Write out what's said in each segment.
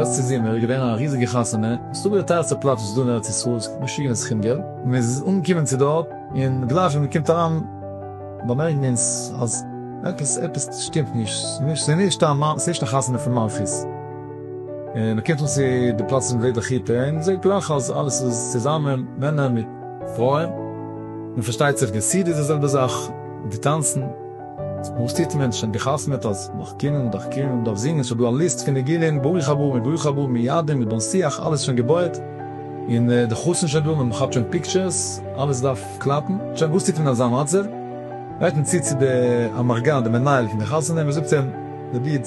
לעצטע זומער איז געווען א ריזיגע חתונה, מסתבר די טייערסטע פלאץ וואס איז דא אין ארץ ישראל, עס קאסט משוגענע סכום געלט, מען איז אנגעקומען צו דארט, און גלייך ווי מען קומט אריין באמערקן אונז אז עפעס עפעס שטימט נישט, ס'איז נישט ס'איז נישט א חתונה פון מלכות. און מען קומט אן צו די פלאץ פון וועד הכיתה און מען זעט גלייך אז אלעס איז צוזאמען, מענער מיט פרויען, און פארשטייט זיך די סידי איז די זעלבע זאך, די טאנצן, וואס טוט מען, שוין גע'חתמ'עט אז מען דארף קומען, מען דארף קומען, מען דארף זינגען, שוין דא א ליסט פון ניגונים, ברוך הבא מיט ברוך הבא מיט ידען מיט בן שיח, אלעס שוין געבויעט, און די חתן שוין דא, מען כאפט שוין פיקטשערס, אלעס דארף קלאפן, שוין וואס טוט מען אין אזא מצב, גייט מען צו צו די אמרגן, די מנהל פון די חתונה, מען זאגט אים, רביד.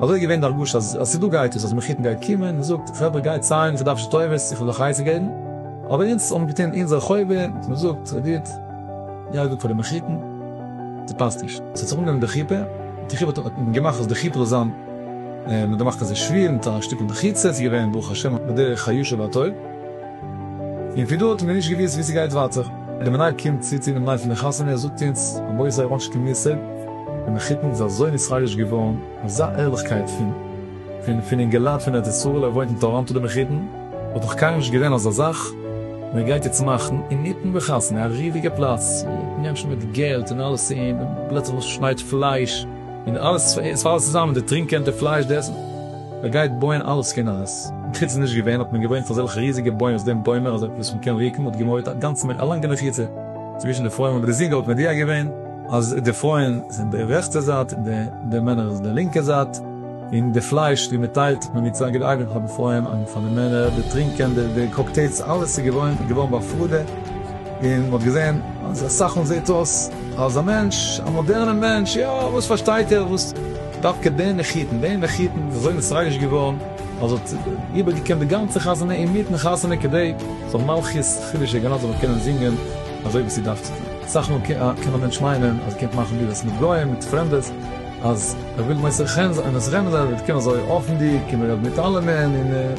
אזוי איז געווען די הרגשה אז ס'איז דא גייטעס, אז מחותן גייט קומען און זאגט חברה גייט ציילן איך דארף נישט טובות איך וויל אייך עצה געבן, אבער אונז האבן געטון אונזער חובה און געזאגט ס'איז גוט יעדע טאג פאר די מחותן, ס'פאסט נישט אז ס'האט זיך אנגענומען די חופה, די חופה האט מען געמאכט אז די חופה זאל זיין מ'האט געמאכט אזוי שווער מיט א שטיקל מחיצה, ס'איז געווען ברוך השם בדרך הישר והטוב. און פון דא האט מען נישט געוואוסט ווי ס'גייט ווייטער. די מנהל קומט צו צו דעם ליין פון די חתונה, ער זאגט אונז, רבותי איך האב נישט קיין מושג, די מחותן איז אזוי נתרגש געווארן, אזא ערליכקייט פון פון פון אינגעלייט פון ארץ ישראל, ער וואוינט אין טאראנטא די מחותן, האט נאך קיינמאל נישט געווען אזא זאך, און ער גייט יעצט מאכן אינמיטן די חתונה, א ריזיגע פלאץ, מענטשן מיט געלט און אלעס, און פלוצלינג שניידט פלייש, און אלעס, עס פאלט אלעס צוזאם, די טרינק קענטער, פלייש, די עסן. מען גייט בויען אלעס פון אייז. חוץ איז נישט געווען, האט מען געוואוינט אויף אזעלכע ריזיגע בוימס, דעם בוימער אזוי וואס מען קען רוקן האט געמויערט א גאנצן מין א לאנגע מחיצה צווישן די פרויען, און ריזיגע האט מען דיע געווען אז די פרויען זענען די רעכטע זייט און די מענער איז די לינקע זייט, און די פלייש ווי מען טיילט האט מען מיט צוויי געדייווען פאר די פרויען און פאר די מענער, די טרינקען די קאקטעילס אלעס איז געוואוין געווארן בהפרדה, און מען האט געזען אז אסאך מאל זעט אויס אז א מענטש א מאדערנע מענטש יא וואס פארשטייט ער וואס. דווקא די נחיתן, די נחיתן איז אזוי נתרגש געווארן אז האט איבערגעקומט די גאנצע חתונה אינמיטן חתונה כדי זאל מלכות חידושי גן עדן זאל קענען זינגען אזוי ווי ס'דארף צו זיין. אסאך מאל קען א מענטש מיינען אז ער קומט מאכן ברירות מיט גוים, מיט פרעמדעס, אז ער וויל מוסר חן זיין, און עס רעמזען זיי אז ער וועט קומען אזוי אפנדיג און מ'רעדט מיט אלעמען און.